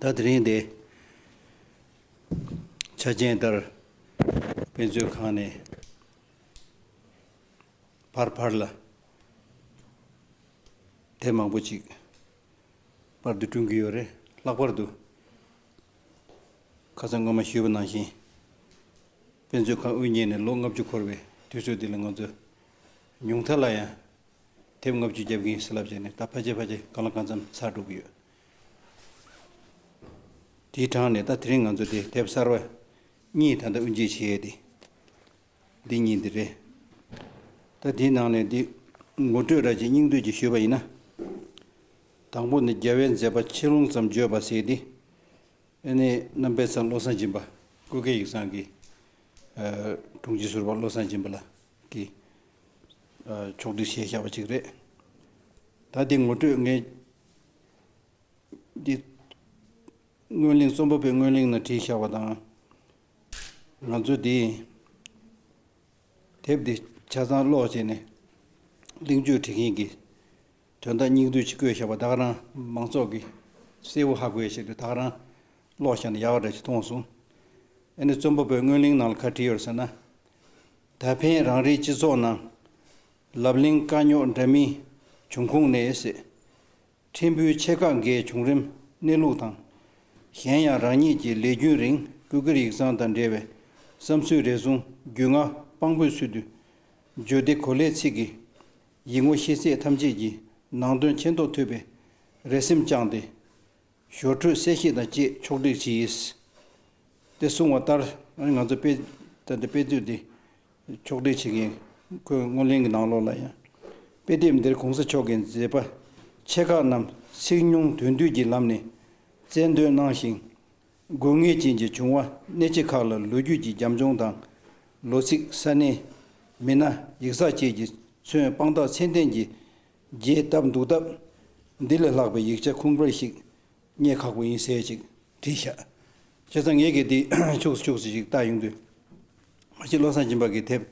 ད་དེ་རིང་དེ་ཆ་རྐྱེན་ལྟར་དཔེ་མཛོད་ཁང་ནས་ཕར་ཕར་ལ་དེབ་མང་པོ་ཅིག་པར་དུ་བསྐྲུན་གྱི་ཡོད་རེད། ལྷག་པར་དུ་ཁ་སང་སྔོན་མ་ཞུས་པ་ནང་བཞིན་དཔེ་མཛོད་ཁང་དབུ་བརྙེས་ནས་ལོ་ལྔ་བཅུ་འཁོར་བའི་དུས་ཚོད་འདི་ལ་ང་ཚོ་ཉུང་མཐའ་ལ་ཡང་དེབ་ལྔ་བཅུ་རྒྱབ་ཀྱིན་སེ་ལབ་བྱས་ནས་ད་ཕ་རྗེས་ཕ་རྗེས་གང་ལ་གང་འཚམ་ཚར་འགྲོ་གི་ཡོད། དེའི་གྲངས་ནས་ད་དེ་རིང་ང་ཚོ་དེ་དེབ་གསར་བ་གཉིས་ད་ལྟ་དབུ་འབྱེད་བྱས་ཏེ། འདི་གཉིས་འདི་རེད། ད་དེའི་ནང་ནས་འདི་ངོ་སྤྲོད་ར་ཅིག་སྙིང་བསྡུས་ཀྱིས་ཞུས་པ་ཡིན་ན། དང་པོ་ནི་རྒྱལ་བའི་མཛད་པ་ཆེ་ལུང་ཙམ་བརྗོད་པ་ཟེར་ཏེ། ཨེ་ནས་རྣམ་པས་ཚང་བློ་བཟང་སྦྱིན་པ་སྐུ་སྒེར་ཡིག་ཚང་གི་དྲུང་ཆེ་ཟུར་པ་བློ་བཟང་སྦྱིན་པ་ལ་གི། ཕྱོགས་བསྒྲིགས་ཞེས་བྱ་བ་ཅིག་རེད། ད་དེ་ངོ་སྤྲོད་མཁན་གྱི། སྔོན་གླེང་རྩོམ་པ་པོས་སྔོན་གླེང་ན་བྲིས་བྱ་བ་དང། ང་ཚོས་དེ། དེབ་དེ་ཆ་ཚང་ཀློག་བྱས་ནས། གླེང་བརྗོད་བྲིས་མཁན་གྱི། དོན་དག་སྙིང་བསྡུས་ཅིག་བཀོད་བཞག་པ་དག་རང་མང་ཚོགས་ཀྱི་གསལ་བོ་ཧ་གོ་ཡས་ཤིག་རེད་དག་རང་ཀློག་བཞག་ན་ཡག་འདྲ་ཞིག་མཐོང་སོང། ཨ་ནི་རྩོམ་པ་པོས་སྔོན་གླེང་ནང་ལ་ཁ་བྲིས་ཡོད་ཟེར་ན། ད་ཕན་རང་རེའི་སྤྱི་ཚོགས་ནང་ལབ་གླེང་དཀའ་རྙོག་འདྲ་མིན་བྱུང་ཁུངས་ནས་སེ་ཕྲེང་བུའི་ཆེ་ཁག་འགའི་བྱུང་རིམ་གནས་ལུགས་དང། གཞན་ཡང་རང་ཉིད་ཀྱི་ལས་རྒྱུན་རིང་སྤུས་ཀར་ཡིག་ཚང་དང་འབྲེལ་བའི་བསམ་ཚུལ་རེ་ཟུང་རྒྱུས་མངའ་དཔང་པོའི་ཚུལ་དུ་བརྗོད་དེ་གོ་སླའི་ཚིག་གིས་ཡིད་ངོ་ཤེས་ཚད་ཐམས་ཅད་ཀྱིས་ནང་དོན་མཁྱེན་རྟོགས་ཐུབ་པའི་རེ་སེམས་བཅངས་ཏེ། ཞོར་འཕྲོས་གསལ་བཤད་དང་བཅས་ཕྱོགས་བསྒྲིགས་བྱས། དེ་གསུངས་བ་ལྟར་ང་ཚོ་དཔེ་མཛོད་དེ་ཕྱོགས་བསྒྲིགས་བྱེད་མཁན་ཁོས་སྔོན་གླེང་གི་ནང་ལོགས་ལ་ཡང། དཔེ་དེབ་འདིར་གོང་ས་མཆོག་གི་མཛད་པ་ཆེ་ཁག་རྣམས་ཚིག་ཉུང་དོན་བསྡུས་ཀྱི་ལམ་ནས་རྩལ་འདོན་གནང་ཞིང། དགོས་ངེས་ཅན་གྱི་བྱུང་བ་གནད་ཆེ་ཁག་ལ་ལོ་རྒྱུས་ཀྱི་རྒྱབ་ལྗོངས་དང། ལོ་ཚིགས་ས་གནས། མི་སྣ་ཡིག་ཚགས་བཅས་ཀྱིས་མཚོན་དཔང་རྟགས་ཚད་ལྡན་གྱི་རྒྱས་བཏབ་འདུག་སྟབས། འདི་ལས་ལྷག་པའི་ཡིག་ཆ་ཁུངས་འཕེར་ཞིག་རྙེད་ཁག་པོ་ཡིན་ཟེར་ཅིག་བྲིས་བཞག་བྱས་ཙང་ངེད་ཀྱིས་དེ་ཕྱུགས་སུ་ཕྱུགས་སུ་ཞིག་བལྟ་ཡོང་དུས། མ་གཞི་བློ་བཟང་སྦྱིན་པ་གྱི་དེབ་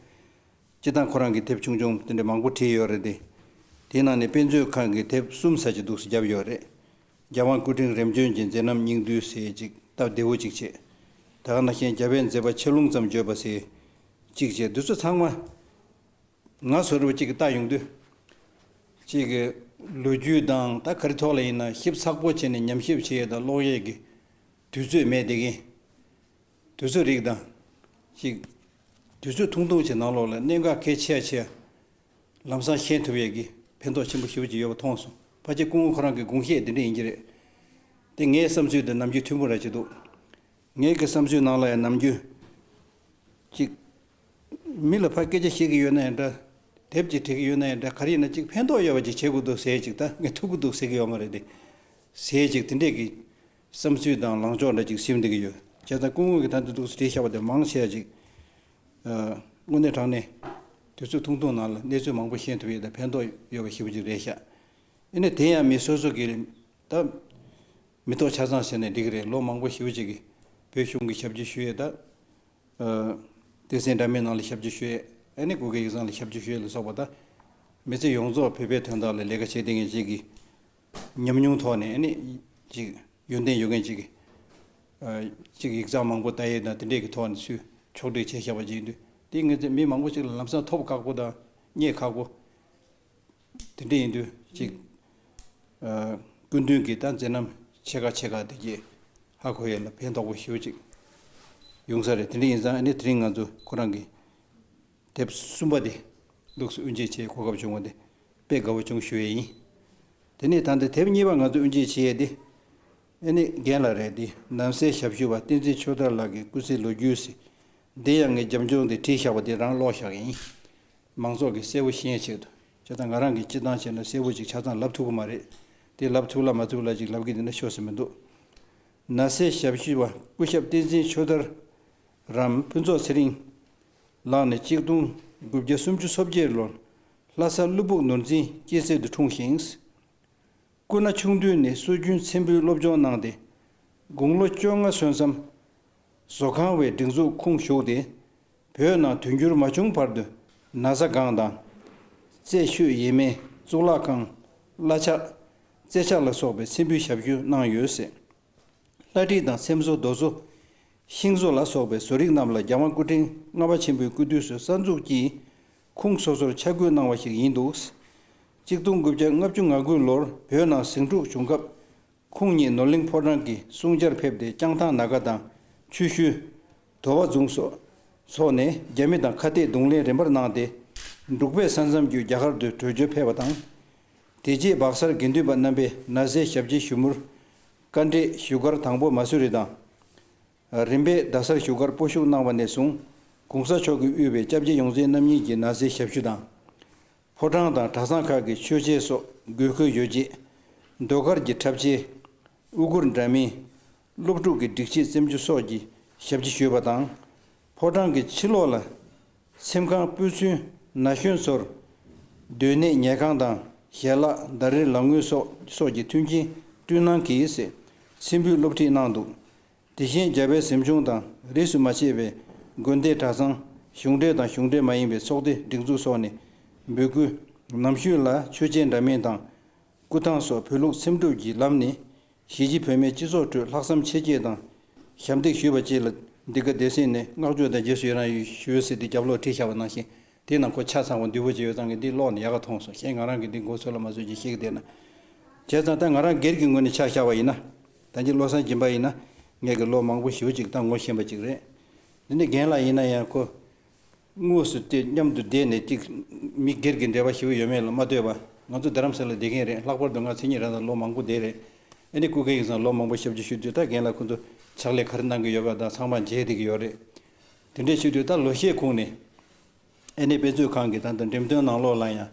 སྤྱི་དང་ཁོ་རང་གི་དེབ་ཆུང་ཆུང་དེ་འདྲ་མང་པོ་བྲིས་ཡོད་རེད་དེ། དེའི་ནང་ནས་དཔེ་མཛོད་ཁང་གི་དེབ་གསུམ་ཟ་བྱེད་འདུག་སེ་བརྒྱབ་ཡོད་རེད། རྒྱལ་དབང་སྐུ་ཕྲེང་རིམ་བྱོན་གྱི་མཛད་རྣམ་སྙིང་བསྡུས་གསལ་ཅིག་སྟབས་བདེ་བོ་ཅིག་བྱེད། དག་སྣ་ཤན་བརྒྱ་པའི་མཛད་པ་ཆེ་ལུང་ཙམ་བརྗོད་པ་གསལ་ཅིག་བྱེད་འདི་ཚོ་ཚང་མ་ང་ཚོ་རུ་བ་གཅིག་གིས་བལྟ་ཡོང་དུས། གཅིག་གི་ལོ་རྒྱུས་དང་ད་ག་རི་ཐོག་ལ་ཡིན་ན་ཞིབ་ཚགས་པོ་བྱས་ནས་ཉམས་ཞིབ་བྱེད་ཡས་དང་ཀློག་ཡས་ཀྱི་དུས་ཚོད་མེད་བསྡད་གིན། དུས་ཚོད་རིགས་དང། གཅིག་དུས་ཚོད་ཐུང་ཐུང་བྱེད་ནང་ལོགས་ལ་གནད་འགག་གལ་ཆེ་ཡ་ཆེ་ཡ། ལམ་སང་ཤན་ཐུབ་ཡས་ཀྱིས་ཕན་ཐོགས་ཆེན་པོ་ཞུ་ཅིག་ཡོད་པ་མཐོང་སོང་ཕ་ཁྱེད་སྐུ་ངོ་ཁོ་རང་གི་དགུང་ཤེད་འདི་འདྲ་ཡིན་གྱི་རེད་དེ་ངའི་བསམ་ཚུལ་དེ་ནམ་རྒྱུན་ཐུན་མོང་ར་བྱེད་འདུག་ངའི་གི་བསམ་ཚུལ་ནང་ལ་ཡང་ནམ་རྒྱུན་ཅིག། མི་ལ་ཕ་སྐད་ཆ་བཤད་གི་ཡོད་ན་ཡང་འདྲ། དེབ་ཅིག་བྲིས་གི་ཡོད་ན་ཡང་འདྲ་ག་རེ་ཡིན་ན་ཅིག་ཕན་ཐོགས་ཡོད་པ་ཅིག་བྱེད་དགོས་འདུག་ཟེར་ཡས་ཅིག་ད་ངས་ཐུབ་གི་འདུག་ཟེར་གི་ཡོད་མ་རེད་དེ། ཟེར་ཡས་ཅིག་དེ་འདྲས་ཀྱི། བསམ་ཚུལ་དང་ལངས་ཕྱོགས་འདྲ་ཅིག་ཞིབ་འདེགས་ཀྱི་ཡོད། བྱས་ཙང་སྐུ་ངོས་ཀྱི་དམ་དུ་འདུག་ཟེར་བྲིས་ཤག་པ་དེ་མང་ཆེ་བ་ཅིག་དངོས་གནས་དྲང་གནས། དུས་ཚོད་ཐུང་ཐུང་ནང་ལ་གནས་ཚུལ་མང་པོ་ཤེས་ཐུབ་ཡོད་དང་ཕན་ཐོགས་ཡོད་པ་ཞིག་པོ་ཅིག་རེད་ཤག་ཨེ་ནས་དེ་ཡང་མི་སོ་སོ་གིས་ད་མི་ཐོག་ཆ་ཚང་ཟེར་ནས་འགྲིག་གི་རེད་ལོ་མང་པོ་ཞིབ་པོ་ཅིག་གིས་བོད་གཞུང་གི་ཞབས་ཕྱི་ཞུས་ཡོད་ད། སྡེ་ཚན་འདྲ་མིན་ནང་ལ་ཞབས་ཕྱི་ཞུས་ཡོད་ཨེ་ནས་གུ་གེ་ཡིག་ཚང་ལ་ཞབས་ཕྱི་ཞུས་ཡོད་ལ་སོགས་པ་ད། མི་ཚེ་ཡོངས་རྫོགས་བོད་པའི་དོན་དག་ལ་ལས་ཀ་བྱས་བསྡད་མཁན་ཞིག་གིས་ཉམས་མྱོང་ཐོག་ནས་ནི་ཅིག་ཡོན་ཏན་ཡོད་མཁན་ཅིག་གིས་ཡིག་ཚགས་མང་པོ་བལྟ་ཡས་དང་དེ་འདྲས་ཀྱི་ཐོག་ནས་ཚུལ་ཕྱོགས་སྒྲིག་བྱས་བཞག་པ་ཅིག་ཡིན་དུས་དེ་ངེད་ཚོས་མི་མང་པོ་ཞིག་ལ་ལམ་སང་ཐོབ་ཁག་པོ་དང་རྙེད་ཁག་པོ་དེ་འདྲས་ཡིན་དུས་ཅིག་སྐུ་མདུན་གྱིས་ད་མཛད་རྣམ་ཆེ་ཁག་ཆེ་ཁག་དེ་རྗེས་ཧ་གོ་ཡས་ལ་ཕན་ཐོགས་པོ་ཞིག་ཡོང་ས་རེད་དེ་འདྲས་ཡིན་ཙང་ནི་དེ་རིང་ང་ཚོ་ཁོ་རང་གི། དེབ་གསུམ་པ་དེ་ལུགས་སུ་དབུ་འབྱེད་བྱེད་གོ་སྐབས་བྱུང་བ་དེ་དཔེ་དགའ་བོ་ཅུང་ཞུ་ཡས་ཡིན། དེ་ནས་ད་ལྟ་དེབ་གཉིས་པ་ང་ཚོས་དབུ་འབྱེད་བྱེད་ཡས་དེ། ཨེ་ནི་རྒན་ལགས་རེད་དེ་ནང་གསེས་ཞབས་ཞུ་བ་བསྟན་འཛིན་ཆོས་དར་ལགས་ཀྱི་སྐུ་ཚེའི་ལོ་རྒྱུས་ཟེར། འདི་ཡང་ངས་རྒྱབ་ལྗོངས་དེ་བྲིས་བཞག་པ་དེ་རང་ཀློག་བཞག་ཡིན། མང་ཚོགས་ཀྱིས་གསལ་བོ་ཤེས་ཆེད་དུ་ཇི་ལྟར་ང་རང་གིས་སྤྱི་བཏང་བྱས་ན་གསལ་བོ་ཅིག་ཆ་ཚང་ལབ་ཐུབ་ཀྱི་མ་རེད། དེ་ལབ་ཐུབ་ལ་མ་ཐུབ་ལ་ཅིག་ལབ་གི་འདུག་ན་ཤོར་ཟིན་པ་འདུག་ན་གསེས་ཞབས་ཞུ་བ་སྐུ་ཞབས་བསྟན་འཛིན་ཆོས་དར་རམ་ཕུན་ཚོགས་ཚེ་རིང། ལག་ནས་གཅིག་སྟོང་དགུ་བརྒྱ་སུམ་ཅུ་སོ་བརྒྱད་ལོར་ལྷ་སར་ཀླུ་སྦུག་ནོར་འཛིན་སྐྱེས་སྲས་དུ་འཁྲུངས་ཤིང། སྐུ་ན་ཆུང་དུས་ནས་སྲོལ་རྒྱུན་མཚན་འབུལ་སློབ་སྦྱོང་གནང་སྟེ་དགུང་ལོ་བཅོ་ལྔ་སོན་མཚམས། བཟོ་ཁང་བའི་སྒྲིག་འཛུགས་ཁུངས་ཞུགས་ཏེ་བོད་ནང་དུས་འགྱུར་མ་བྱུང་བར་དུ་ན་བཟའ་སྒང་དང། རྩེ་ཤོད་ཡེ་མེ་གཙུག་ལག་ཁང། བླ་ཕྱག། རྩེ་ཕྱག་ལ་སོགས་པའི་མཚན་འབུལ་ཞབས་ཞུ་གནང་ཡོད་སྲིད། ལྷ་བྲིས་དང་ཚེམ་བཟོ་རྡོ་བཟོ། ཤིང་བཟོ་ལ་སོགས་པའི་བཟོ་རིག་རྣམས་ལ་རྒྱ་མ་སྐུ་ཕྲེང་ལྔ་པ་ཆེན་པོའི་སྐུ་དུས་སུ་གསར་འཛུགས་ཀྱིས་ཁུངས་སོ་སོར་ཆ་བགོས་གནང་བ་ཞིག་ཡིན་འདུག། གཅིག་སྟོང་དགུ་བརྒྱ་ལྔ་བཅུ་ང་དགུ་ལོར་བོད་ནང་ཟིང་འཁྲུག་བྱུང་སྐབས། ཁོང་ཉིད་ནོར་གླིང་ཕོ་བྲང་གི་སྲུང་བྱར་ཕེབས་ཏེ་སྤྱང་ཐང་ན་ག་དང། ཆུ་ཤུལ། དོ་བ་རྫོང་སོགས་ནས་རྒྱ་མི་དང་ཁ་གཏད་རྡུང་ལེན་རིམ་པར་གནང་སྟེ། འབྲུག་པས་ས་མཚམས་བརྒྱུད་རྒྱ་གར་དུ་བྲོས་བྱོལ་ཕེབས་པ་དང། དེ་རྗེས་བག་གསར་དགེ་འདུན་པ་རྣམ་པས་ན་བཟའི་ཞབས་རྗེས་ཞུ་མུར། བཀའ་འབྲས་བཞུགས་སྒར་དང་པོ་མ་སུ་རི་དང། རིམ་པས་རྡ་སར་བཞུགས་སྒར་སྤོ་བཞུགས་གནང་བ་ནས་བཟུང་གུང་ས་མཆོག་གིས་དབུས་པའི་སྐྱབས་རྗེ་ཡོངས་འཛིན་རྣམ་གཉིས་ཀྱི་ན་བཟའི་ཞབས་ཞུ་དང། ཕོ་བྲང་དང་གྲྭ་ཚང་ཁག་གི་མཆོད་ཆས་སོགས་དགོས་མཁོའི་ཡོ་བྱད། ཟློས་གར་གྱི་འཁྲབ་ཆས། དབུ་གུར་འདྲ་མིན། སློབ་ཕྲུག་གི་སྒྲིག་ཆས་བཙེམ་རྒྱུ་སོགས་ཀྱི་ཞབས་ཕྱི་ཞུས་པ་དང། ཕོ་བྲང་གི་ཕྱི་ལོགས་ལ་ཚེམ་ཁང་སྤོས་ཚུལ་ན་གཞོན་ཚོར་སྡོད་གནས་ཉལ་ཁང་དང་ཞལ་ལག་ཟླ་རེར་ལག་དངུལ་སོགས་སོགས་ཀྱི་མཐུན་རྐྱེན་བསྐྲུན་གནང་གིས་ཚེམ་བུས་སློབ་ཁྲིད་གནང་འདུག་དེ་བཞིན་རྒྱ་བལ་གཟིམ་ཆུང་དང་རིས་སུ་མ་ཆད་པའི་དགོན་སྡེ་གྲྭ་ཚང་གཞུང་འབྲེལ་དང་གཞུང་འབྲེལ་མ་ཡིན་པའི་ཚོགས་སྡེ་སྒྲིག་འཛུགས་སོགས་ནས་འབོད་སྐུལ་ནམ་ཞུས་ལ་ཆོས་རྗེ་འདྲ་མིན་དང་སྐུ་ཐང་སོགས་བོད་ལུགས་ཚེམ་དྲུབ་ཀྱི་ལམ་ནས་གཞིས་བྱེས་བོད་མའི་སྤྱི་ཚོགས་ཁྲོད་ལྷག་བསམ་ཆེ་བསྐྱེད་དང། ཞབས་འདེགས་ཞུས་པ་བཅས་ལ་འདི་ག་སྡེ་སྲིད་ནས་བསྔགས་བརྗོད་དང་རྗེས་སུ་ཡི་རང་ཞུས་སྲིད་དེ་རྒྱབ་ལོག་བྲིས་ཤག་པ་གནང་ཞིང་དེའི་ནང་ཁོ་ཆ་ཚང་བ་འདུས་པོ་བྱས་ཡོད་ཙང་གི་འདི་ཀློག་ནས་ཡག་ག་མཐོང་སོང་གཞན་ང་རང་གིས་འདི་མགོ་ཚོས་ལ་མ་ཚོས་ཀྱིས་ཤིག་བལྟས་ན། བྱས་ཙང་ད་ང་རང་སྒེར་གྱི་ངོས་ནས་ཆ་བཞག་པ་ཡིན་ན། ད་འདི་བློ་སངས་སྦྱིན་པ་ཡིན་ན། ངས་གི་ལོ་མང་པོ་ཞིབ་ཅིག་ད་ངོ་ཤེས་པ་ཅིག་རེད། འདི་ནི་རྒན་ལགས་ཡིན་ན་ཡང་ཁོ། དངོས་སུ་སྟེ་མཉམ་དུ་བསྡད་ནས་ཅིག། མི་སྒེར་གྱི་འབྲེལ་བ་ཞིག་ཡོད་མེད་ལ་མ་ལྟོས་པར། ང་ཚོ་རྡ་རམ་ས་ལར་བསྡད་མཁན་རེད་ལྷག་པར་དུ་ང་མཚན་ཉིད་རང་དང་ལོ་མང་པོ་བསྡད་རེད། ཨ་ནེ་སྐུ་སྒེར་ཡིན་ཙང་ལོ་མང་པོ་ཞབས་ཕྱི་ཞུས་དུས་ད་རྒན་ལགས་ཁོང་ཚོ་ཕྱག་ལས་ག་རེ་གནང་གི་ཡོད་པ་དག་ཚང་མ་མཇལ་བསྡད་ཀྱི་ཡོད་རེད། དེ་འདྲས་ཞུས་དུས་ད་ལོ་ཤས་གོང་ནས། ཨ་ནེ་དཔེ་མཛོད་ཁང་གི་ད་ལྟ་འགྲེམས་སྟོན་ནང་ལོག་ལ་ཡང།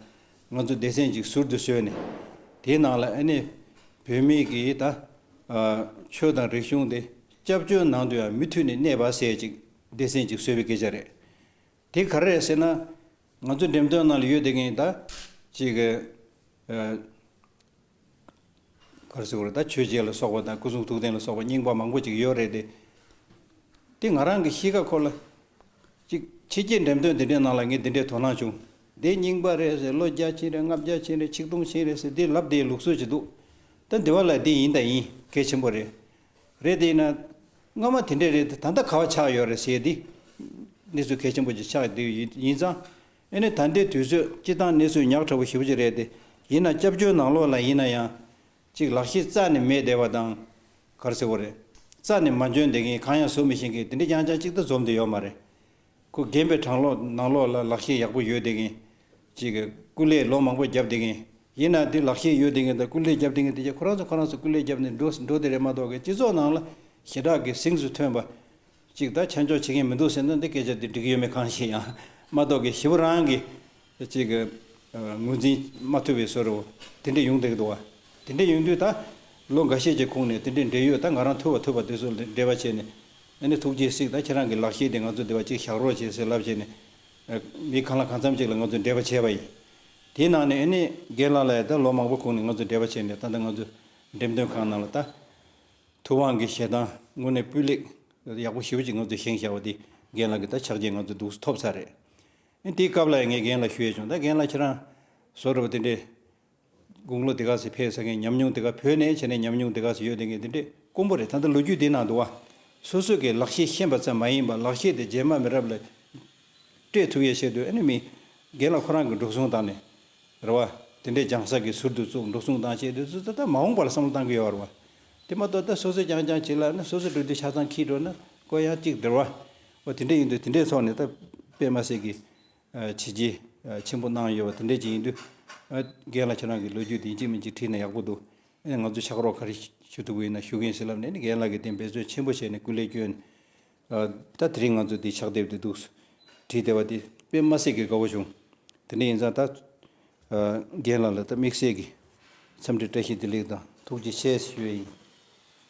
ང་ཚོ་སྡེ་ཚན་ཅིག་ཟུར་དུ་བཟོས་ནས། དེའི་ནང་ལ་ཨ་ནེ། བོད་མི་གིས་ད། ཆོས་དང་རིག་གཞུང་དེ། སྐྱབས་བཅོལ་ནང་དུ་ཡང་མི་མཐུད་ནས་གནས་པ་ཟེར་ཅིག། སྡེ་ཚན་གཅིག་གསོད་པའི་སྐད་ཆ་རེད། དེ་ག་རེ་རེད་ཟེར་ན། ང་ཚོའི་འགྲེམས་སྟོན་ནང་ལ་ཡོད་དེ་གཉིས་ད། གཅིག་གི། གར་སེ་བོར་ད་ཆོས་རྗེ་ལ་སོགས་པ་དང་སྐུ་གསུང་ཐུགས་རྟེན་ལ་སོགས་པ་རྙིང་པ་མང་པོ་ཅིག་ཡོད་རེད་དེ། དེ་ང་རང་གི་གཤིས་ཀ་ཁོ་ལ། གཅིག་ཕྱི་རྒྱལ་འགྲེམས་སྟོན་དེ་འདྲའི་ནང་ལ་ངས་དེ་འདྲའི་དོ་སྣང་བྱུང། འདི་རྙིང་པ་རེད་ཟེར་ལོ་བརྒྱ་ཕྱིན་རེད་ལྔ་བརྒྱ་ཕྱིན་རེད་ཆིག་སྟོང་ཕྱིན་རེད་ཟེར་འདི་ལབ་དེའི་ལུགས་སྲོལ་ཅིག་འདུག། ད་འདི་བ་ལ་འདི་ཡིན་ད་ཡིན་གལ་ཆེན་པོ་རེད། རེད་དེ་ཡིན་ན། སྔ་མ་དེ་འདྲས་རེད་ད་ལྟ་ག་བ་ཆགས་ཡོད་རེད་ཟེར་དེ། གནས་ཚུལ་གལ་ཆེན་པོ་ཅིག་ཆགས་འདུག་ཡིན་ཙང། ཨེ་ནི་ད་ལྟའི་དུས་ཚོད་སྤྱི་བཏང་གནས་ཚུལ་ཉག་ཕྲ་བོ་ཞིབ་ཅིག་རེད་དེ། ཡིན་ན་སྐྱབས་བཅོལ་ནང་ལོགས་ལ་ཡིན་ན་ཡང། ཅིག་ལག་ཤེས་རྩ་ནས་མེད་བསྡད་པ་དང། གར་སེ་བོ་རེད། རྩ་ནས་མ་འཇོན་བསྡད་མཁན་གང་ཡང་བཟོ་མི་ཤེས་མཁན་དེ་འདྲས་ཀྱང་ཅང་ཅིག་ད་འཛོམས་དུ་ཡོད་མ་རེད། ཁོ་རྒན་པའི་དྲང་ལོག་ནག་ལོག་ལ་ལག་ཤེས་ཡག་པོ་ཡོད་བསྡད་མཁན། གཅིག་གིས་སྐུ་ལས་ལོ་མང་པོ་བརྒྱབ་བསྡད་མཁན། ཡིན་ནའང་དེ་ལག་ཤེས་ཡོད་བསྡད་མཁན་དང་སྐུ་ལས་བརྒྱབ་བསྡད་མཁན་དེ་བརྒྱ་ཁོ་རང་ཚོ་ཁོ་རང་ཚོ་སྐུ་ལས་བརྒྱབ་ནས་འགྲོ་འགྲོ་བསྡད་རེད་མ་གཏོགས་གི་སྤྱི་ཚོགས་ནང་ལ་ཞེ་དྲག་གི་གཟེངས་སུ་ཐོན་པ། གཅིག་ད་ཆ་འཇོག་བྱེད་མཁན་མི་འདུག་ཟེར་ན་འདི་སྐད་ཆ་འདི་འགྲིག་གི་ཡོད་མེད་གང་ཤེས་ཡང། མ་གཏོགས་གི་ཞེ་བོ་རང་གི་གཅིག་གི་ངོས་འཛིན་མ་ཐུབ་པའི་ཟོ་རུ་དེ་འདྲས་ཡོང་བསྡད་འདུག་བ། དེ་འདྲས་ཡོང་དུས་ད་ལོ་འགའ་ཤས་ཀྱི་ཁུངས་ནས་དེ་འདྲས་འབྲེལ་ཡོད་ད་ང་རང་ཐུབ་བ་ཐུབ་པ་དེ་ཚོ་འབྲེལ་བ་བྱས་ནས། ཨ་ནི་ཐུགས་རྗེས་གཟིགས་ད་ཁྱེད་རང་གི་ལག་ཤེས་དེ་ང་ཚོ་བདེ་བ་ཅིག་བཞག་རོགས་བྱས་ཟེར་ལབ་བྱས་ནས། མི་གང་ལ་གང་འཚམ་ཅིག་ལ་ང་ཚོས་འབྲེལ་བ་བྱས་པ་ཡིན། དེའི་ནང་ནས་ཨ་ནི་སྒེར་ལངས་ལ་ཡང་ད་ལོ་མང་པོ་ཁུངས་ནས་ང་ཚོས་འབྲེལ་བ་བྱས་ནས་ད་ལྟ་ང་ཚོ་འགྲེམས་སྟོན་ཁང་ནང་ལ་ད། ཐུབ་དབང་གི་ཞལ་ཐང་དངོས་གནས་སྤུས་ལེགས། ཡག་པོ་ཞེ་བོ་ཅིག་ང་ཚོས་བཞེངས་བཞག་པ་དེ་རྒན་ལགས་ཀྱི་ད་ཕྱག་རྗེས་ང་ཚོ་སྡུག་ཐོབ་ཚར་རེད། ཨ་ནི་དེའི་སྐབས་ལ་ཡང་ངས་རྒན་ལ་ཞུ་ཡས་བྱུང་ད་རྒན་ལགས་ཁྱེད་རང། བཟོ་རུ་བ་དེ་འདྲའི། དགུང་ལོ་འདི་ག་ཟིག་ཕེབས་ཟེར་མཁན་ཉམས་མྱོང་འདི་ག་བོད་ནས་བྱས་ནས་ཉམས་མྱོང་འདི་ག་ཟིག་ཡོད་བསྡད་མཁན་དེ་འདྲས་དཀོན་པོ་རེད་ད་ལྟ་ལོ་རྒྱུས་འདི་ནང་དུ་བ་སོ་སོས་ཀྱི་ལག་ཤེས་ཤེས་པ་ཙམ་མ་ཡིན་པར་ལག་ཤེས་དེ་རྗེས་མ་མི་རབས་ལ་སྤྲད་ཐུབ་ཡས་བཤད་དུས་ཨེ་ནི་མི་རྒན་ལ་ཁོ་རང་གི་འགྲོ་སོང་བཏང་ནས་རེད་བ། དེ་འདྲས་རྒྱང་བསགས་ཀྱི་ཟུར་དུ་བཙུགས་འགྲོ་སོང་བཏང་བྱས་དུས་སུ་ད་ལྟ་མ་འོངས་པ་ལ་བསམ་བློ་བཏང་གི་ཡོད་རེད་བ། དེ་མ་གཏོགས་ད་སོ་སོས་རྐྱང་རྐྱང་བྱེད་ལ་ནི་སོ་སོས་འགྲོ་དུས་ཆ་ཚང་འཁྱིལ་འགྲོ་ན་ཀོ་ཡང་གཅིག་རེད་བ། འོ་དེ་འདྲས་ཡིན་དུས་དེ་འདྲས་ཐོག་ནས་ད་པད་མ་སེར་གྱི་བྱས་རྗེས་ཆེན་པོ་གནང་ཡོད་པ་དེ་འདྲའི་རྗེས་ཡིན་དུས། རྒན་ལགས་ཁྱེད་རང་གི་ལོ་རྒྱུས་འདི་འཇིགས་མི་འཇིགས་བྲིས་ན་ཡག་པོ་འདུག་ཨེ། ང་ཚོས་ཕྱག་རོགས་ག་རེ་ཞུ་ཐུབ་ཀྱི་ཡིན་ན་ཞུ་གིན་ཞེས་ལབ་ནས་ནི་རྒན་ལགས་ཀྱིས་དེ་འབད་བརྩོན་ཆེན་པོ་བྱས་ནས་སྐུ་ལས་བསྐྱོན། ད་དེ་རིང་ང་ཚོས་འདི་ཕྱག་དེབ་འདི་འདུག་བྲིས་བསྡད་པ་དེ་དཔེ་དམའ་སེ་གི་དགའ་བོ་བྱུང། དེ་འདྲ་ཡིན་ཙང་ད། རྒན་ལགས་ལ་ད་དམིགས་བསལ་གྱི་འཚམས་འདྲི་བཀྲ་ཤིས་བདེ་ལེགས་དང་ཐུགས་རྗེ་ཆེ་ཞུ་ཡི་ཡིན།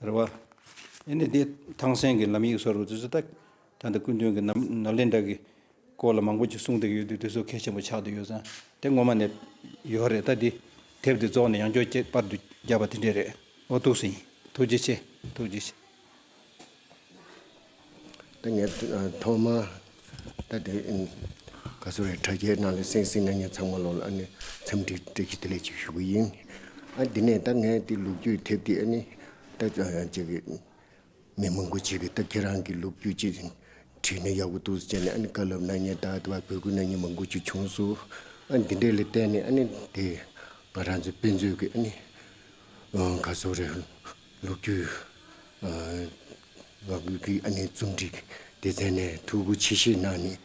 རེ་བ། ཨེ་ནི་འདི་ཐང་སན་གི་ལམ་ཡིག་སོགས་རུ་ཙི་ཙི་ཏག་ཏག་འདི་སྐུ་མདུན་གི་ནཱ་ལེནྡྲ་གི་སྐོར་ལ་མང་པོ་ཅིག་གསུངས་འདུག་ཡོད་དུས་དེ་ཚོ་གལ་ཆེན་པོ་ཆགས་འདུག་ཡོད་ཙང་དེ་ངོ་མ་ནས་ཡོད་རེད་ད་འདི་དེབ་འདི་རྫོགས་ནས་ཡང་ཁྱོད་ཀྱིས་པར་དུ་རྒྱབ་པ་དེ་འདྲས་རེད་འོ་ཐུགས་ཟིན་ཐུགས་རྗེ་ཆེ་ཐུགས་རྗེ་ཆེ། ད་ངས་ཐོག་མར་ད་དེ་ག་ཚོད་རེད་དྲ་རྒྱའི་ནང་ལ་གསན་ཟིན་ན་ངས་ཚང་མ་ལོག་ལ་ཨ་འཚམས་འདྲི་སྤྲད་ཀྱི་དེ་ལས་ཅིག་ཞུ་གི་ཡིན། ཨ་དེ་ནས་ད་ངས་དེ་ལུག་རྒྱུད་ཐེབས་དེ་ཨ་ནི་ད་ཅེ་གི་མི་མང་པོ་བྱེད་གི་ད་ཁྱེད་རང་གི་ལུག་རྒྱུད་ཅེ་བྲིས་ན་ཡག་པོ་འདུག་ཟེར་ནས་ཨ་ནི་བཀའ་སློབ་གནང་ཉེན་ད་བར་བོད་ཁུལ་ན་མྱི་མང་པོ་བྱེད་བྱུང་སུ་ཨ་འདི་འདྲས་ལ་བལྟས་ནས་ཨ་ནི་དེ་ང་རང་ཚོ་དཔེ་མཛོད་ཀྱི་ཨ་ནི་ག་ཚོད་རེད། ལོ་རྒྱུས། ང་ཀུན་གྱིས་རྩོམ་སྒྲིག་སྡེ་ཚན་ནས་ཐུགས་ཁུར་ཆེ་བཞེས་གནང་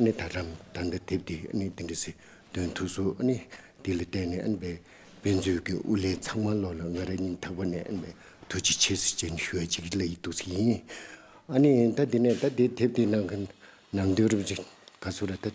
ནས་ད་དྲམ་ད་ལྟ་དེབ་དེ་འདི་འདྲ་ཟེར་དོན་ཐུགས་གསོ། དེ་ལ་བརྟེན་ནས་དཔེ་མཛོད་ཀྱི་དབུ་ལས་ཚང་མ་ལོག་ལ་ང་རང་ཉིད་ཐག་པ་ནས་ཐུགས་རྗེ་ཆེ་ཟེར་བྱས་ནས་ཞུ་བ་ཅིག་ལ་ཡིད་གཏུགས་ས་ཡིན། ད་དེ་ནས་ད་དེ་དེབ་དེ་ནང་གི་ནང་དོན་རུབ་ཅིག་ག་ཚོད་ར་ད།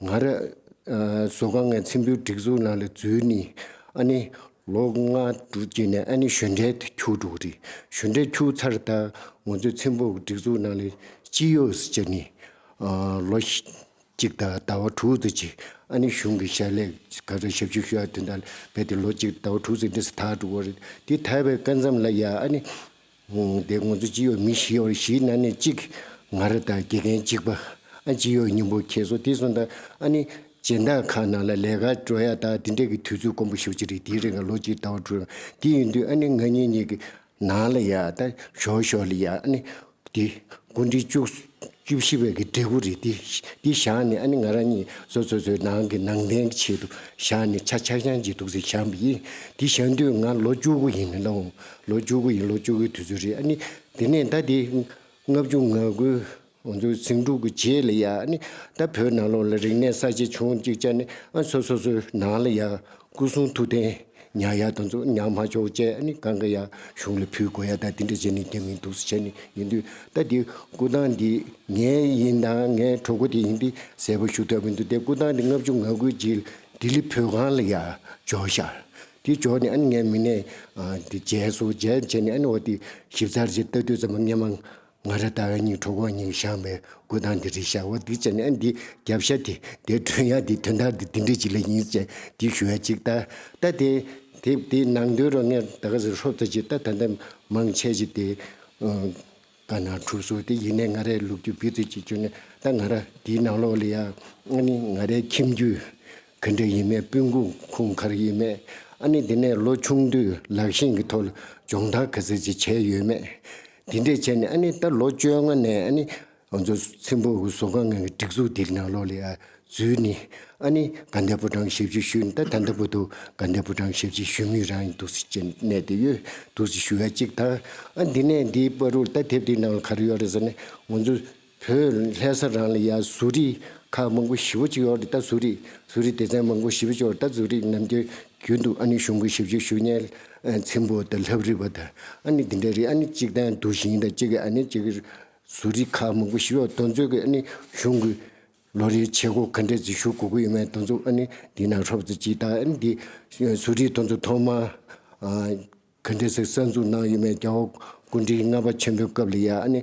ང་ར། བཟོ་དཀའ་ངའི་མཚན་བུའི་སྒྲིག་འཛུགས་ནང་ལ་འཛུལ་ནས་ཨ་ནི་ལོ་ལྔ་དྲུག་བསྐྱལ་ནས་ཨ་ནི་གཞོན་གྲལ་དུ་འཁྱུག་འགྲོ་གི་རེད་གཞོན་གྲལ་འཁྱུག་ཚར་ད་ང་ཚོའི་མཚན་བུ་སྒྲིག་འཛུགས་ནང་ལ་ཅི་ཡོད་སུ་བྱས་ནས་ལོ་གཅིག་དང་ཟླ་བ་དྲུག་ཙམ་གྱིས་ཨ་ནི་གཞུང་གི་ཞལ་ལས་ག་ཚོད་ཞབས་ཞུ་ཞུ་ཡག་དེ་འདྲ་ལས་ཏེ་ལོ་གཅིག་ཟླ་བ་དྲུག་ཙམ་འདི་སུ་ཐག་འགྲོ་གི་རེད་དེ་ཐལ་བའི་སྐལ་མཚམས་ལ་ཡ་ཨ་ནི། འདས་ངོ་ཚོ་ཅི་ཡོད་མི་ཤེས་བར་གཞིས་སྣ་ནས་གཅིག་ང་ར་དང་དགེ་རྒན་གཅིག་པ་ཨ་ཅི་ཡོད་སྙིང་པོ་ཁྱེད་སོ་དེ་སོ་འདའ་ཨ་ནི་སྦྱན་བདག་ཁག་ནང་ལ་ལས་ཀ་འགྲོ་ཡ་ད་དེ་འདྲས་ཀྱི་དུས་ཚོད་དཀོན་པོ་ཞིག་ཅི་རེད་དེའི་རིང་ལ་ལོ་གཅིག་ཟླ་བ་དྲུག་རང་དེ་ཡིན་དུས་ཨ་ནི་ང་གཉིས་གཉིས་ཀྱི་ནང་ལ་ཡ་ད་ཞོག་ཞོག་ལི་ཡ་ཨ་ནི་དེ་དགུ་འདྲི་བཅུག་བཅུ་བཞི་བའི་གི་འབྲས་བུ་རེད་དེ། འདི་བཞག་ནས་ཨ་ནི་ང་རང་ཉིད་བཟོ་བཟོ་བཟོའི་ནང་གི་ནང་བསྟན་གྱི་ཆེད་དུ་བཞག་ནས་ཆ་ཆག་ཆང་བྱེད་འདུག་ཟེར་བཞག་པ་ཡིན། འདི་བཞག་དུས་ང་ལོ་བཅུ་དགུ་ཡིན་ནི་ལོ་ལོ་བཅུ་དགུ་ཡིན་ལོ་བཅུ་དགུའི་དུས་ཚོད་རེད་ཨ་ནི། དེ་ནས་ད་དེ་ལྔ་བཅུ་ང་དགུ། ང་ཚོ་ཟིང་འཁྲུག་གི་རྗེས་ལ་ཡང་ཨ་ནི། ད་བོད་ནང་ལོགས་ལ་རིག་གནས་གསར་བརྗེ་བྱུང་གཅིག་ཅར་ནས་ཨ་ནི་སོ་སོ་སོའི་ནང་ལ་ཡང་སྐུ་གསུང་ཐུགས་རྟེན་ཉག་ཡ་དང་ཚོགས་ཉག་མ་ཆོག་བཅས་ནི་གང་གི་ཡ་གཞུང་ལ་ཕུལ་དགོས་ཡ་ད་དེ་འདྲ་བྱས་ནས་རྒྱ་མིའི་འདུག་ས་བྱས་ནས་ཡིན་དུས་ད་དེ་སྐུ་ཐང་འདི་ངའི་ཡིན་དང་ངའི་གྲོགས་པོ་དེ་ཡིན་ཏེ་གསལ་པོ་ཞུ་ཐབས་མི་འདུག་དེ་སྐུ་ཐང་འདི་ལྔ་བཅུ་ང་དགུའི་རྗེས་ལྡི་ལི་བོད་ཁང་ལ་ཡ་འཇོག་ཤག་དེ་འཇོག་ནས་ངའི་མི་སྣས་དེ་མཇལ་སོ་མཇལ་བྱས་ནས་འོ་དེ་ཞིབ་ཚགས་རྗེས་ལྟ་དུས་ཙམ་ལ་ངས་མང། ང་ར་ད་བའི་སྙིང་ཁྲོ་བོ་སྙིང་བཤང་བའི་སྐུ་དང་འདི་རི་ཤ་བ་སྡིག་ཅན་ཨེ་འདི་རྒྱབ་ཤ་དེ་འདི་སྒྲོན་ཡ་དེ་དོན་དག་འདི་འདི་འདྲ་ཅིག་ལ་ཡིན་ཅེས་འདི་ཞུ་བ་ཅིག་ལྟ་ལྟ་དེ་དེ་དེ་ནང་དོན་རོ་ངས་ད་ག་ཟེར་ཧྲོབ་ཙ་ཅིག་ལྟ་ད་ད་མང་ཆས་ཅིག་དེ་ག་ན་གྲུབ་སོ་དེ་ཡིན་ནས་ང་རའི་ལུག་ཁྱུ་བེད་རྩོད་ཅིག་བྱོས་ནས་ད་ང་ར་དེའི་ནང་ལོགས་ལ་ཡ་ཨ་ནི་ང་རའི་ཁྱིམ་རྒྱུད་ག་འདྲ་ཡིན་མེད་སྤུན་ཁུ་ཁུང་གར་ཡིན་མེད་ཨ་ནི་དེ་ནས་ལོ་ཆུང་དུས་ལག་ཤིང་གི་ཐོག་ལ་སྦྱོང་བརྡར་ག་ཟེར་ཅིག་བྱས་ཡོད་མེད། དེ་འདྲས་བྱས་ནས་ཨ་ནི་ད་ལོ་བཅོ་ལྔ་ནས་ཨ་ནི་ང་ཚོ་ཚིམ་པོ་བཟོ་སྒང་ངང་གི་སྒྲིག་འཛུགས་འདིར་ནང་ལོགས་ལས་ཨ་ཛུའི་ནི་ཨ་ནི་དགའ་ཟླའི་པོ་ཀྲང་ཞབས་ཕྱི་ཞུས་ནས་ད་ད་ལྟ་བུ་དུ་དགའ་ཟླའི་པོ་ཀྲང་ཞབས་ཕྱི་ཞུ་མུས་རང་ཡིན་འདུག་ཟེར་གྱིན་གནས་དེ་ཡོད་འདུག་ཟེར་ཞུ་ཡ་གཅིག་དང་ཨ་འདི་ནས་འདིའི་པར་རུར་ད་དེབ་འདི་ནང་ལ་ག་རེ་ཡོད་རེད་ཟེར་ནས་ང་ཚོ་བོད་ལྷའི་ས་རང་ལ་ཡ་གཟུགས་རིས་ཁག་མང་པོ་བཞི་བོ་གཅིག་ཨོ་རི་རྟ་གཟུགས་རིས་གཟུགས་རིས་སྡེ་ཚན་མང་པོ་བཞི་བོ་གཅིག་ཨོ་རི་རྟ་གཟུགས་རིས་རྣམས་ཀྱི་རྒྱུད་དུ་ཨ་ནི་གཞུང་གི་ཞིབ་བཤེར་ཞུ་སྙན་ཚིམ་པོ་དང་ལྷབ་རིས་པ་དང་ཨ་ནི་འདི་འདྲ་རེད་ཨ་ནི་གཅིག་དང་དུ་ཞིང་དང་གཅིག་གི་ཨ་ནི་གཅིག་གི་གཟུགས་རིས་ཁག་མང་པོ་བཞི་བོ་གདོན་ཚོད་ཀྱི་ཨ་ནི་གཞུང་གི་ལོ་རེའི་བྱེད་སྒོ་ག་འདྲ་རྩིས་ཞུ་དགོས་ཀྱི་ཡོད་མེད་གདོན་ཚོད་ཨ་ནི་འདི་ན་ཧྲོབ་རྩིས་སྤྱི་དང་ཨ་ནི་འདི་གཟུགས་རིས་གདོན་ཚོད་ཐོག་མ། གྷན་དྷེ་སི་གསར་འཛུགས་གནང་ཡོད་མེད་རྒྱ་བོད་སྐུ་མགྲིན་ལྔ་པ་ཆེན་པོའི་སྐབས་ལ་ཡ་ཨ་ནི་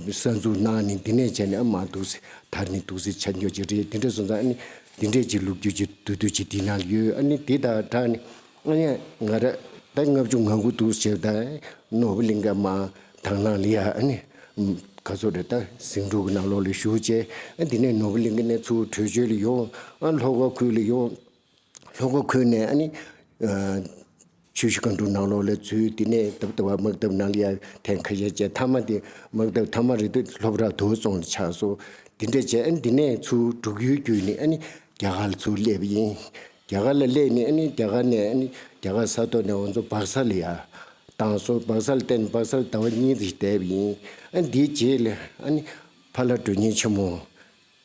གསར་འཛུགས་གནང་ནི་འདི་ནས་བྱས་ནས་ཨ་མ་འདུག་སི་དར་ནི་འདུག་སི་ཆ་འགྱོ་ཅིག་རེད་དེ་འདྲས་སོང་ཙང་ཨ་ནི་འདི་འདྲས་ཅིག་ལུགས་རྒྱུ་ཅིག་བསྡུ་བསྡུ་ཅིག་འདི་ན་ཡོད་ཨ་ནི་འདི་ད་དྲག་ནི་ཨ་ཡ་ང་ར་ད་ལྔ་བཅུ་ང་དགུ་འདུག་ཟེར་ད་ནོར་བུ་གླིང་ཀ་མ་དང་ལང་ལི་ཡ་ཨ་ནི་ག་ཚོད་རེད་ད་ཟིང་འཁྲུག་གི་ནང་ལོགས་ལ་ཞུགས་བྱས་ཨ་འདི་ནས་ནོར་བུ་གླིང་ཀ་ནས་ཚུར་བྲོས་བྱོལ་ལ་ཡོང་ཨ་ལྷོ་ཁ་ཁུལ་ལ་ཡོང། ལྷོ་སྒོ་ཁུལ་ནས་ནི། ཆུ་ཤུར་གང་འདྲུག་ནང་ལོགས་ལས་ཚུལ་དེ་ནས་དབབ་ལྟ་བ་དམག་འཐབ་ནང་གི་ཡང་ཐན་ཁ་ཤས་བཅས་མཐའ་མ་དེ་དམག་འཐབ་མཐའ་མ་རེད་དུས་ལྷོ་བྲག་དུ་སོང་ནས་ཆགས་སོ། དེ་འདྲ་བྱས་ནི་དེ་ནས་ཚུར་འབྲུག་ཡུལ་བརྒྱུད་ནས་ནི་རྒྱ་གར་ལ་ཚུར་སླེབས་པ་ཡིན། རྒྱ་གར་ལ་སླེབས་ནས་ནི་རྒྱ་གར་ནས་ནི་རྒྱ་གར་ས་ཐོག་ནས་འོ་མཚོ་སྦག་ས་ལ་ཡར་བཏང་སོང་སྦག་ས་ལ་བསྟན་ནས་སྦག་ས་ལ་ཟླ་བ་གཉིས་ཙམ་ཞིག་བསྡད་པ་ཡིན། ཨ་ནི་དེའི་རྗེས་ལ་ཨ་ནི་ཕ་ལྷ་སྒྲོན་སྙིང་ཆེན་མོ།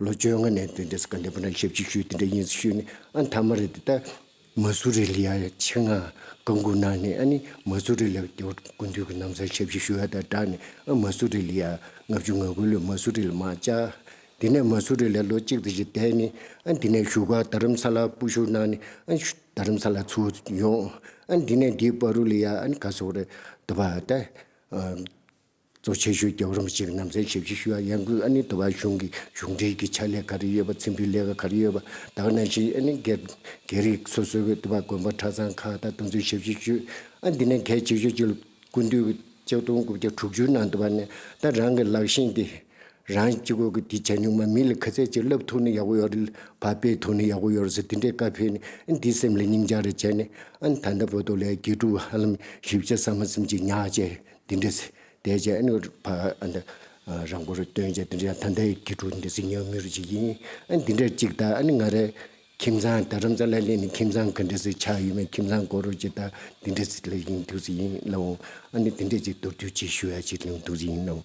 ལོ་བཅོ་ལྔ་ནས་དེ་འདྲས་གནས་པ་ན་ཞབས་ཅིག་ཤོས་དེ་འདྲས་ཡིན་ཞུས་ནས་ཨ་མཐའ་མ་རེད་ད་མ་སུ་རི་ལི་ཡ་ཆེ་ང་དགའ་མགུ་ན་ནས་ཨ་ནི་མ་སུ་རི་ལི་ཡ་དེ་དགུན་དུས་ཀྱི་གནམ་སར་ཞབས་ཅིག་ཤོས་ཨ་ད་བསྒྲགས་ནས་ཨ་མ་སུ་རི་ལི་ཡ་ལྔ་བཅུ་ང་དགུ་ལོའི་མ་སུ་རི་ལི་མ་བཅའ་དེ་ནས་མ་སུ་རི་ལི་ཡ་ལོ་གཅིག་དང་བཞི་བསྡད་ནས་ཨ་དེ་ནས་བཞུགས་ཨ་དར་རམ་ས་ལ་སྤུ་བཞུགས་གནང་ནས་ཨ་དར་རམ་ས་ལ་ཚུར་ཡོང་ཨ་དེ་ནས་འདིའི་བ་རུ་ལི་ཡ་ཨ་ནི་ག་སོག་རེད་དུ་བ་ད། གཙོ་ཆེ་ཤོས་ཀྱི་རུང་གཅིག་ནམ་ཚན་ཞིབ་ཅིག་ཞུ་ཡ་ཡང་གུས་ཨ་ནི་དུ་བ་གཞུང་གི་གཞུང་འབྲེལ་གྱི་ཕྱག་ལས་ག་རེ་ཡོད་པ་ཚིམ་པའི་ལས་ཀ་ག་རེ་ཡོད་པ་དག་གནང་ཞིང་ཨ་ནི་དགེ་རིགས་སོ་སོའི་གི་དུ་བ་དགོན་པ་གྲྭ་ཚང་ཁག་དང་དུ་མཚོན་ཞིབ་ཅིག་ཞུ་ཨ་འདི་ནས་གལ་ཆེ་ཤོས་གཅིག་ལ་ཀུན་འདུས་གི་ལྕགས་སྡོང་དགུ་བརྒྱ་དྲུག་ཅུའི་ནང་དུ་བ་ནས་ད་རང་གི་ལག་ཤེས་འདི་རང་གཅིག་གོ་གི་དེ་བྱ་ཉུང་མ་མིན་ལ་ཁ་ཚད་ཅིག་ལབ་ཐུག་ནི་ཡག་པོ་ཡོད་རེད་བ་སྤེལ་ཐུག་ནི་ཡག་པོ་ཡོད་རེད་ཟེར་དེ་འདྲའི་བཀའ་ཕེབས་ནི་ཨ་འདིས་སེམས་ལ་སྙིང་བཅག་རེ་བྱས་ནི་ཨ་ད་ལྟ་བོད་དུ་ལས་དགེ་ཕྲུག་ཧ་ལམ་བཞི་བརྒྱ་ས་མ་ཚིམ་ཅིག་ཉག་ཅེས་འདི་འདྲའི་ཚེ་དད་ཅན་ཨ་ནུ་བ་འདི་རང་པོར་སྟོན་བྱ་འདི་འདྲའི་ད་ལྟའི་དགེ་ཕྲུག་འདི་གཟིགས་ཉོ་མི་རུ་བྱེད་ཀྱི་ཡིན། ཨ་འདི་འདྲའི་ཅིག་ད་ཨ་ནི་ང་རའི་ཁྱིམ་ཚང་དར་རམ་ཙ་ལ་ལས་ནི་ཁྱིམ་ཚང་ག་འདྲའི་ཚེ་ཆགས་ཡོད་མེད་ཁྱིམ་ཚང་སྐོར་རོ་ཅིག་ད་འདི་འདྲའི་ཚེ་ལས་ཡིན་འདུག་ཚེ་ཡིན་ལ་འོང་ཨ་ནི་འདི་འདྲའི་ཅིག་མདོར་བསྡུས་ཅིག་ཞུ་ཡ་ཅིག་ལེའུ་འདུག་ཚེ་ཡིན་ལ་འོང།